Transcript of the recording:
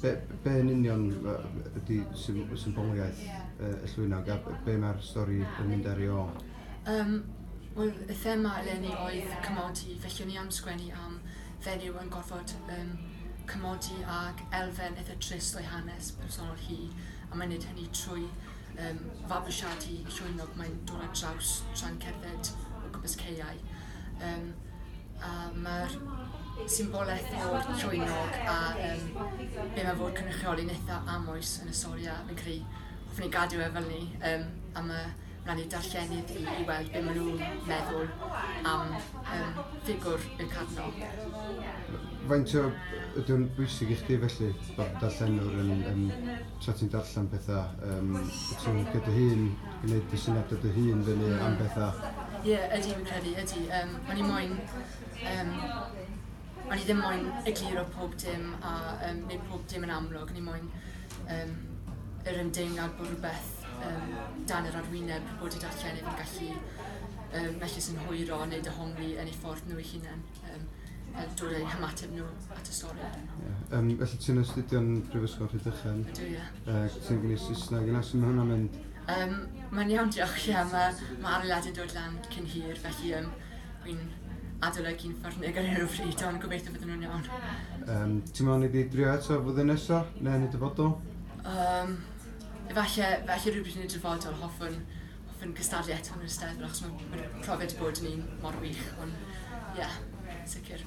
Be, be yn union ydy symboliaeth y llwynog a be mae'r stori yn mynd ar ei ôl? Um, Wel, y thema eleni oedd cymodi, felly o'n i am sgwennu am fenyw yn gorfod um, cymodi ag elfen eitha trist o'i hanes personol hi, a mae'n neud hynny trwy um, fabwysiadu llwynog mae'n dod ar draws tra'n cerdded o gwmpas ceiau. Um, A mae'r symbolaeth o'r llwynog a yym be' ma' fod cynrychioli'n eitha amwys yn y stori a fi'n cre'u hoffwn i gadw e fel 'ny yym a ma' raid i darllenydd i i weld be' ma' nw'n meddwl am yym ffigwr y Cadno. Faint o... Ydy o'n bwysig i chdi felly bod darllenwr yn yn tra ti'n darllen petha yym ti'n gydy hŷn I wneud dy syniadau dy hun fyny yeah. am bethau. Ie, yeah, ydy fi'n credu, ydy. Um, o'n i moyn... Um, o'n i ddim moyn egluro pob dim a um, neu pob dim yn amlwg. O'n i moyn um, yr ymdeimlad bod rhywbeth um, dan yr arwyneb bod i darllenydd yn gallu um, mellus yn hwyro neu dyhongli yn ei ffordd nhw ei hunain. um, a dod eu hymateb nhw at y stori. Yeah. Um, felly ti'n astudio'n Brifysgol Rhydychen? Ydw, ie. Uh, ti'n gwneud Saesneg, yna sy'n hwnna'n mynd? Um, mae'n iawn, diolch, ie. Mae ma arlad yn dod lan cyn hir, felly um, fi'n adolygu'n ffyrnig ar hyn o bryd, ond gobeithio bod nhw'n iawn. Um, ti'n meddwl ni wedi drio eto fyddyn nesaf, neu yn y dyfodol? Um, efallai, felly rhywbryd yn y dyfodol, hoffwn fy nghystadlu eto yn yr Eisteddfod achos mae'n ma profiad wedi bod yn un mor wych. Ond ie, sicr.